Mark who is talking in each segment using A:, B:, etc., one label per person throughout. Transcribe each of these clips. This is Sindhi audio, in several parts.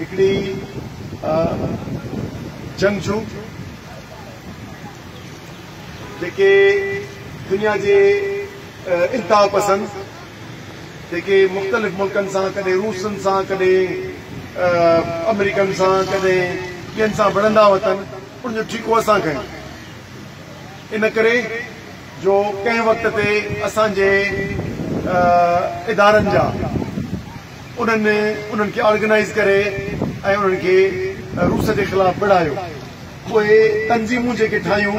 A: هڪڙي جنگجو جيڪي دنيا جي انتها پسند جيڪي مختلف ملڪن سان ڪڏهن روسن سان ڪڏهن آمريڪن سان ڪڏهن ٻين سان وڙهندا وتن ان جو ٺيڪو اسان کنيو ان ڪري جو ڪنهن وقت تي اسان جي ادارن جا انهن انهن کي آرگنائيز ڪري ۽ انهن کي روس جي خلاف وڙهايو. پوء تنظيمون جيڪي ٺاهيون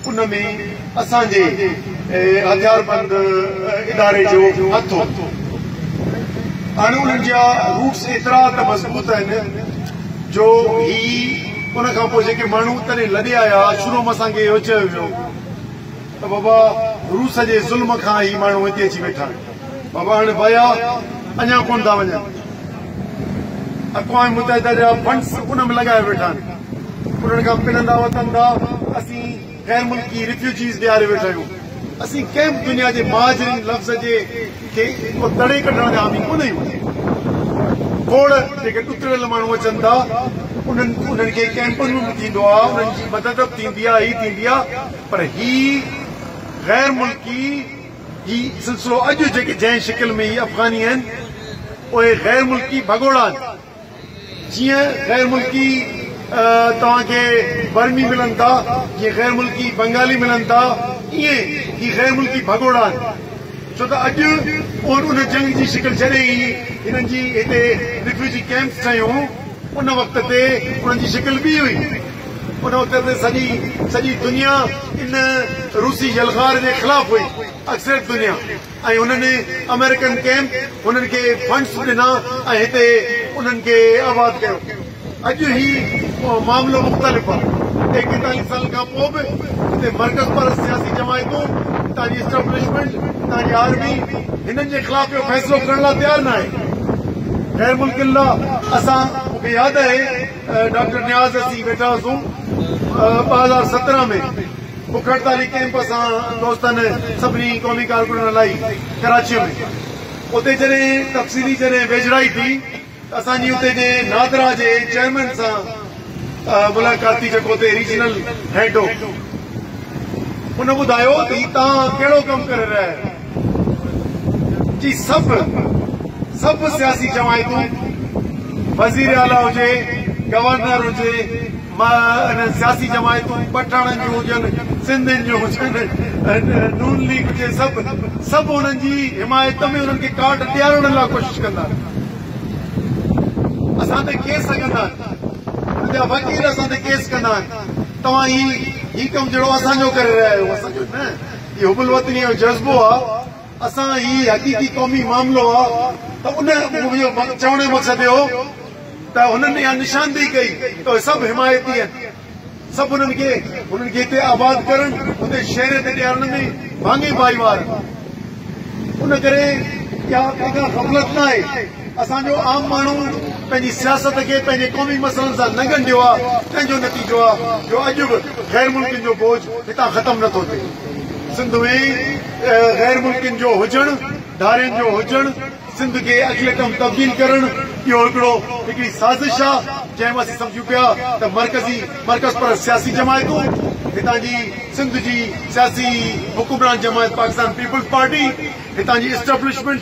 A: ان ۾ اسان جي هٿياربند اداري جو هٿ هو. هاڻ انهن جا روٽس ايترا ته مضبوط آهن جو هي ان کان پوء جيڪي ماڻهو تڏهن لڏي آيا شروع ۾ اسان کي اهو چيو ويو ته بابا روس جي ظلم کان هي ماڻهو هتي اچي ويٺا آهن. بابا هاڻي ويا اڃا ڪونه ٿا وڃن اقوام متحده جا فنڊس ان ۾ لڳايا ويٺا آهن انهن کان پنندا وتن ٿا اسين غير ملڪي ريفيوجيز ڏياري ويٺا آهيون اسين ڪنهن به دنيا جي مهاجرين لفظ جي کي ڪو تڙي ڪڍڻ جا حامي ڪونه آهيون کوڙ جيڪي ڏتڙيل ماڻهو اچن ٿا انهن انهن کي ڪيمپن ۾ به ٿيندو آهي انهن جي مدد به ٿيندي آهي هي ٿيندي آهي پر هي غير ملڪي هي سلسلو اڄ جيڪي جنهن شڪل ۾ هي افغاني آهن اهي غير ملڪي ڀڳوڙا آهن جيئن غير ملڪي توهان کي برمي ملن ٿا جيئن غير ملڪي بنگالي ملن ٿا ائين هي غير ملڪي ڀڳوڙا آهن ڇو ته اڄ اهن ان جنگ جي شڪل جڏهن هي هنن جي هتي ريفيوجي ڪئمپس ٺهيون ان وقت تي انهن جي شڪل ٻي هئي ان وقت ۾ سڄي سڄي دنيا ان روسي يلغار جي خلاف هئي اڪثريت دنيا ۽ انهن آمريڪن ڪيمپ هنن کي فنڊس ڏنا ۽ هتي انهن کي آباد ڪيو اڄ هي معاملو مختلف آ ايڪيتاليهه سالن کان پو به هتي مرڪز پرست سياسي جماعتون هتان جي اسٽبلشمينٽ هتان جي آرمي هنن جي خلاف اهو فيصلو ڪرڻ لا تيار ناهي خير ملڪ الله اسان مون کي ياد آهي ڊاڪٽر نياز اسين ويٺا هئاسون ٻه هزار سترهن ۾ بک هڙتالي ڪيمپ اسان دوستن سڀني قومي ڪارڪنن هلائي ڪراچيء ۾ اتي جڏهن تفصيلي جڏهن ويجهڙائي ٿي ته اسان جي اتي جي نادرا جي چيئرمين سان ملاقات ٿي جيڪو اتي ريجنل هيڊ هو ان ٻڌايو ته هي تان ڪهڙو ڪم ڪري رهيا آهيو جي سڀ سڀ سياسي جماعتون وزير اعليٰ هجي، گورنر هجي، سياسي جماعتون پٺاڻن جون هجن، سنڌين جون هجن، نون ليگ هجي سڀ سڀ انهن جي حمايت ۾ انهن کي ڪارڊ ڏيارڻ لاء ڪوشش ڪندا آهن. اسان تي ڪيس لڳندا آهن، انهن جا وڪيل اسان تي ڪيس ڪندا آهن، توهان هي هي ڪم جهڙو اسان جو ڪري رهيا آهيو، اسان جو نه. هي حب الوطنيء جو جذبو آ، اسان هي حقيقي قومي معاملو آ ته ان منهنجو چوڻ جو مقصد اهو هو ته هنن اها نشاندهي ڪئي ته اهي سڀ حمايتي آهن، سڀ هنن کي هنن کي هتي آباد ڪرڻ، هتي شهريت ڏيارڻ ۾ ڀاڱي ڀائيوار آهن. ان ڪري اها ڪا غفلت ناهي. اسان جو عام ماڻهو پنهنجي سياست کي پنهنجي قومي مسئلن سان نه ڳنڍيو آ، تنهن جو نتيجو آ جو اڄ به غير ملڪين جو بوجھ هتان ختم نه ٿو ٿئي. سنڌ ۾ غير ملڪين جو هجڻ، ڌارين جو هجڻ، سنڌ کي اقليتم تبديل ڪرڻ، اهو هڪڙو هڪڙي سازش آ، جنهن ۾ اسين سمجھون پيا ته مرڪزي مرڪز پرست سياسي جماعتون، هتان جي سنڌ جي سياسي حڪمران جماعت پاڪستان پيپلز پارٽي، هتان جي اسٽبلشمينٽ،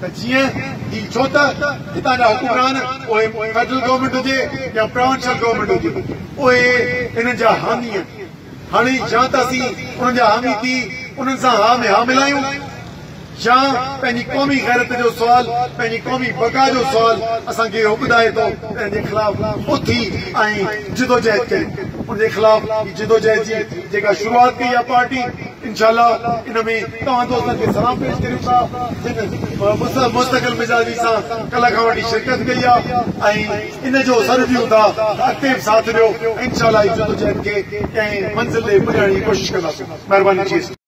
A: ته جيئن هي ڇو ته هتان جا حڪمران پوء فيڊرل گورنمينٽ هجي يا پراونشل گورنمينٽ هجي اهي انهن جا حامي آهن هاڻي يا ته اسين انهن جا حامي ٿي انهن سان ها ۾ ها ملايون يا پنهنجي قومي غيرت جو سوال پنهنجي قومي بقا جو سوال اسان کي اهو ٻڌائي ٿو ته ان جي خلاف اٿي ۽ جدوجهد ڪريون ان جي خلاف هي جدوجهد جي جيڪا شروعات ڪئي آهي پارٽي انشاء الله ان ۾ توهان دوستن کي سلام پيش ڪريون ٿا جن مستقل مزاجي سان ڪلهه کان وٺي شرڪت ڪئي آهي ۽ ان جو سڏ ڏيون ٿا ته اڳتي به ساٿ ڏيو انشاء الله هي جدوجهد کي ڪنهن منزل ڏي پڄائڻ جي ڪوشش ڪنداسون مهرباني جي ايس ٽي.